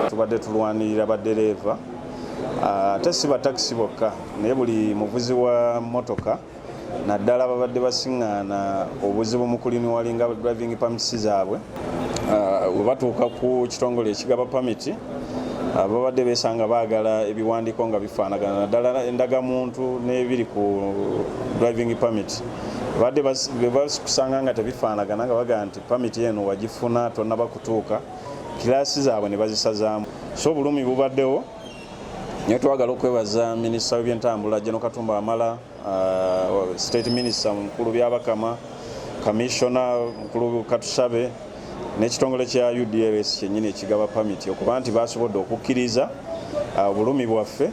tubadde tulwanirira baddereeva ah, ate si batakisi bokka naye buli muvuzi wa motoka naddala babadde basiŋŋaana obuzibu mu kuliniwalinga driving pamits zaabwe ah, we batuuka ku kitongole ekigaba pamiti ah, babadde besanga baagala ebiwandiiko nga bifaanagana naddala endagamuntu n'ebiri ku driving pamit badde basikusanga nga tebifaanagana nga bagamba nti pamiti eno wagifuna tonaba kutuuka kilaasi zaabwe ne bazisazaamu so obulumi bubaddewo naye twagala okwebaza minisita w'ebyentambula jeno katumba wamala uh, state minister mukulu byabakama kamissiona mukulu katusabe n'ekitongole kya udls kyenyini ekigaba pamiti okuba nti basobodde okukkiriza uh, obulumi bwaffe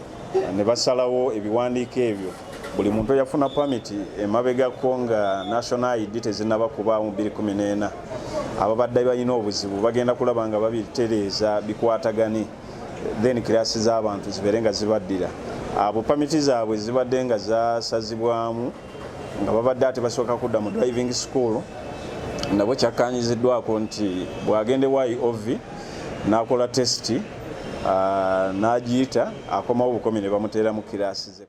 ne basalawo ebiwandiiko ebyo buli muntu eyafuna pamiti emabegako nga national id tezinaba kubaawo mu 214 ababadde balina obuzibu bagenda kulaba nga babitereeza bikwatagane then kirasi z'abantu zibeere nga zibaddira abo pamiti zaabwe zibadde nga zasazibwamu nga babadde ate basooka kudda mu driving school nabo kyakkanyiziddwako nti bw'agenda ewa iov n'akola tesiti n'agiyita akomawo obukomi ne bamuteera mu kirasi ze